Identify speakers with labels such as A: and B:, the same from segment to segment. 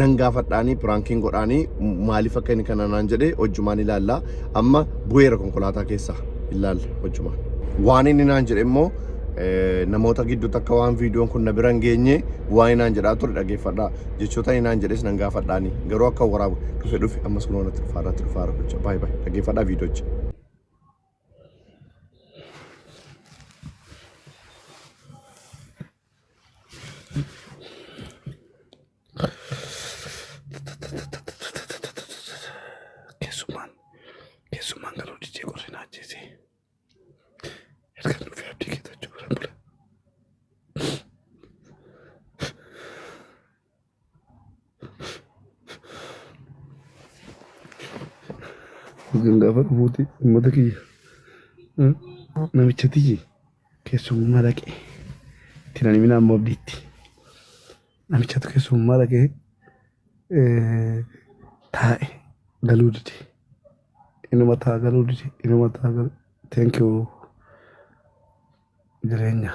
A: nan gaafadhaanii piraankiin godhaanii maaliif akka inni kana naan jedhee hojjumaan ilaalla amma bu'eera konkolaataa keessa ilaalla hojjumaan. Waan inni naan jedhe immoo namoota gidduutti akka waan viidiyoon kun na bira hin geenye waan naan jedhaa ture dhageeffadha jechoota inni naan jedhes nan gaafadhaanii garuu akka waraabu dhufe dhufe ammas kun wanatti dhufaa irratti dhufaa irra gocha baay'ee baay'ee dhageeffadhaa viidiyocha. Keessummaan keessummaan garuu didee qorrina ajjeesee. Erga nuuf yaabdii keetachuu bira bula. Kan gaafa dhufuuti uummata kiyya eh, namicha tiyyi keessummaa dhaqe itti nan himinaa immoo abdiitti namichatu keessummaa dhaqe eh, taa'e galuu dide inuma taa galuu dide inuma taa galuu thank you jireenya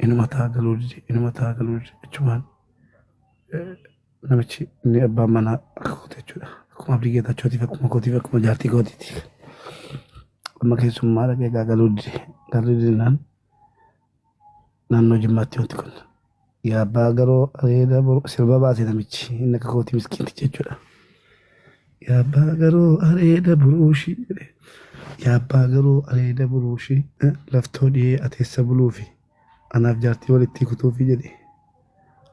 A: inuma taa galuu dide inuma taa galuu dide achumaan namichi inni abbaan manaa akka kooti jechuudha akkuma abdii geetaachotiif akkuma kootiif akkuma jaartii kootiiti amma keessummaa dhaqee egaa galuu dide galuu didinaan naannoo jimmaatti wanti kun Yaa abbaa garoo areeda boru sirba baase namichi inni akka kooti miskiinti jechuudha. Yaa abbaa garoo areeda buruushi jedhe. Yaa abbaa garoo areeda buruushi eh, laftoo dhiyee ateessa buluufi anaaf jaartii walittii kutuufi jedhe.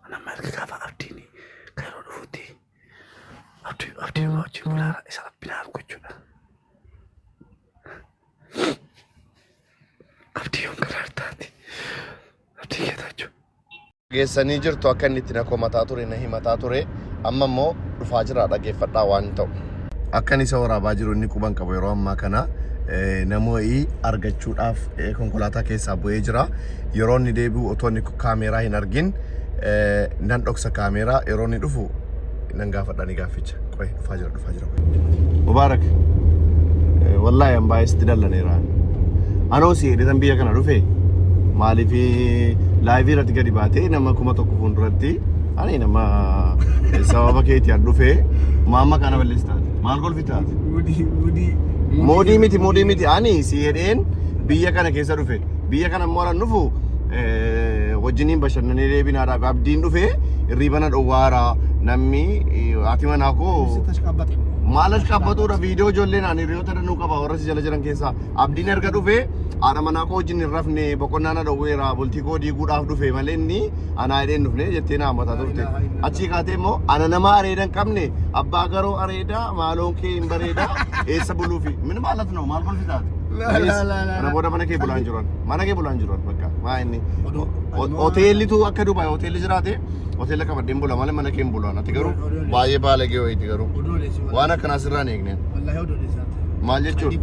A: Anamma erga gaafa abdiin kairoo dhufutti abdii abdii irraa wajjin bulaara isa rabbi na argu jechuudha. Abdii yoon garaartaati. abdii getaachoo. Geessanii jirtu akka inni itti na komataa ture na himataa ture amma immoo dhufaa jira dhageeffadhaa waan ta'u. Akkan isa waraabaa jiru inni quban qabu yeroo ammaa kana namo'ii argachuudhaaf konkolaataa keessaa bu'ee jira. Yeroo inni deebi'u otoo inni kaameeraa hin argin nan dhoksa kaameeraa yeroo inni dhufu nan gaafadha ni gaafficha. Qo'ee dhufaa jira. dhufaa jira kun. Mubaarak wallaahi an baay'ee sitti dallaneera. Anoo si hidhitan biyya kana dhufe maaliif laayivii irratti gadi baatee nama kuma tokko fuulduratti ani nama sababa keetii an dhufe maamma kana balleessi taate maal kolfi taate. Moodii miti moodii miti ani si hidheen biyya kana keessa dhufe. biyya kana immoo anan dhufu eh, wajjiniin bashannanee deebinaadha abdiin dhufe hirriibana dhowwaara namni eh, haati manaa koo maal as qabbatudha viidiyoo ijoollee naan hiriyoota danuu qaba warra si jala jiran keessaa abdiin erga dhufe haadha manaa koo wajjin hin rafne boqonnaa na dhowweera bultii koo diiguudhaaf dhufe malee inni anaa hidhee hin dhufne jettee na hammataa turte achii kaatee immoo ana nama areeda hin qabne abbaa garoo areeda maaloon kee hin bareeda eessa buluufi min maalat noo maal kolfi taate Kana booda mana kee bulaa hin jiran. Mana kee bulaa hin jiran bakka. Maa inni hoteellitu akka Dubaay hoteelli jiraate hoteela qabadheen bula malee mana kee hin bulaan. Ati garuu baay'ee baalagee wayiiti garuu. Waan akkanaa sirraa hin eegneen. Maal jechuun?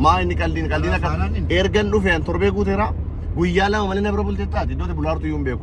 A: Maa inni qaldiin qaldiin akka ergan dhufeen torbee guuteera guyyaa lama malee na bira bultee taate iddoo bulaa jirtu iyyuu hin beeku.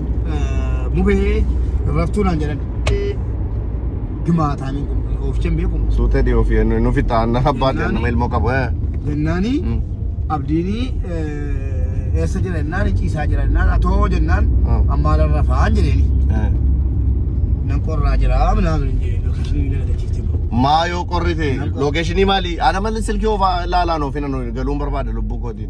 A: mubee raftuu naan jedhan gimaataamiin kun oofchan beekuun Suutee dhiyoo fi nu fixaan abbaa Jennaani. jennu ilmoo qabu. eh. jennaani Mm. abdiini eessa jira jennaan ciisaa jira jennaan atoo jennaan Mm. ammaa lan rafaan jedheeni Eh. nan
B: qorraa jira minaan hin jedhe lookeshinii na galachiifte bro Maa yoo qorrite
A: Nan qorra. lookeeshinii maali? Ana malee silkii oofaa ilaalaan oofina nu galuun barbaada lubbuu kootiin.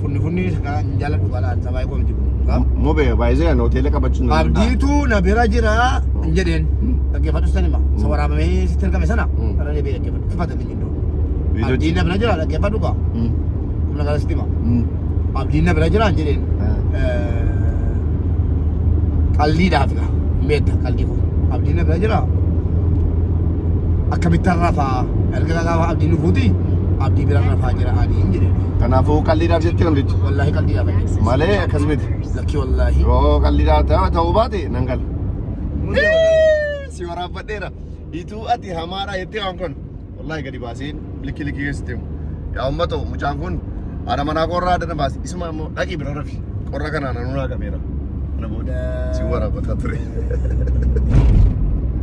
B: Funni funni kan jaaladhu balaan sabaa koo miti kun. Mobe
A: baay'ee kan hoteela qabachuun. Abdiitu na bira
B: jira hin jedheen. Dhaggeeffadhu san hima. Isa waraabamee sitti ergame sana. Irra deebi'ee dhaggeeffadhu. Ifata inni jidduu. Abdiin na bira jira dhaggeeffadhu kaa. Humna gara sitti hima. Abdiin na bira jira hin jedheen. Qalliidhaaf gaa. Meetta qallii koo. Abdiin na bira jira. Akkamitti har'a fa'aa. Erga gaafa abdii nufuuti abdii bira rafaa jira adiin jedhe. Kanaafuu qalliidhaaf
A: jettee namtichi. Wallaahi qalbii gaafa jedhe.
B: Malee akkas miti.
A: Lakkii wallaahi.
B: Yoo qalliidhaa ta'u-
A: ta'uu baate nan gala. Si waraabbadheera. Ituu ati hamaadha jettee waan kun. Wallaahi gadi baaseen likki likki keessatti himu. Yaa uummatoo mucaan kun haadha manaa koo irraa adda na baase. Tuma ammoo dhaqii bira rafi. Qorra kanaan anuu naa qabeera. Kana booda si waraabataa ture.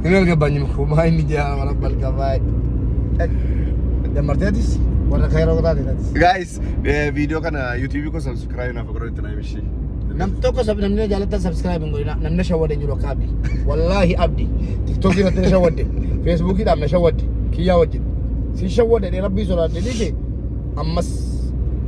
B: Hin algabbanyim koo maa inni jaa wala balgabaa. Dammarteetis warra kayroo taateetis. Guys,
A: viidiyoo kana YouTube koo subscribe naaf godhaa itti naa himishii. Nam tokko sab
B: namni jaalattan subscribe hin godhina namni shawwade hin jiru akka abdi. Wallaahi abdi tiktok irratti na shawwadde feesbuukiidhaan na shawwadde kiyyaa wajjin si shawwadde rabbii sodaadde dhiise ammas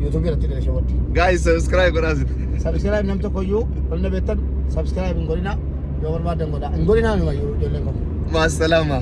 B: yuutuubii irratti gala shawwaddi. Guys subscribe
A: godhaa sin. Subscribe nam tokko
B: iyyuu ol na beektan subscribe hin godhina yoo
A: barbaadan
B: godha. Hin godhina numa ijoolleen koo. Maasalaama.